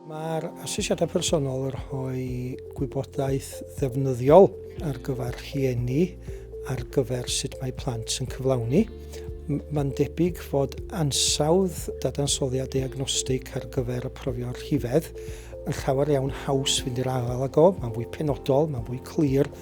Mae'r asesiadau personol yn rhoi gwybodaeth ddefnyddiol ar gyfer rhieni ar gyfer sut mae plant yn cyflawni. Mae'n debyg fod ansawdd dadansoddiad diagnostig ar gyfer y profio'r rhifedd yn llawer iawn haws fynd i'r afael ag o, mae'n fwy penodol, mae'n fwy clir,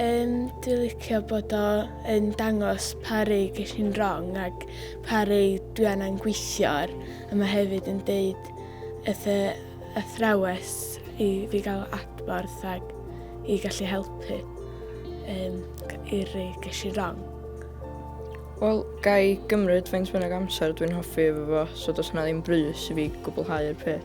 Yym dwi licio bod o yn dangos pa rei ges i'n wrong ac pa rei dwi angen gweithio ar a mae hefyd yn deud wrth y athrawes i fi gael adborth ac i gallu helpu um, i'r rei ges i'n wrong. Wel, ga i gymryd faint bynnag amser dwi'n hoffi efo fo, so does yna ddim brys i fi gwblhau'r peth.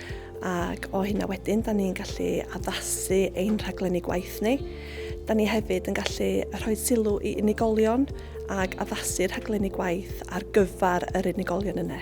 ac o hynna wedyn, da ni'n gallu addasu ein rhaglenni gwaith ni. Da ni hefyd yn gallu rhoi sylw i unigolion ac addasu rhaglenni gwaith ar gyfer yr unigolion yna.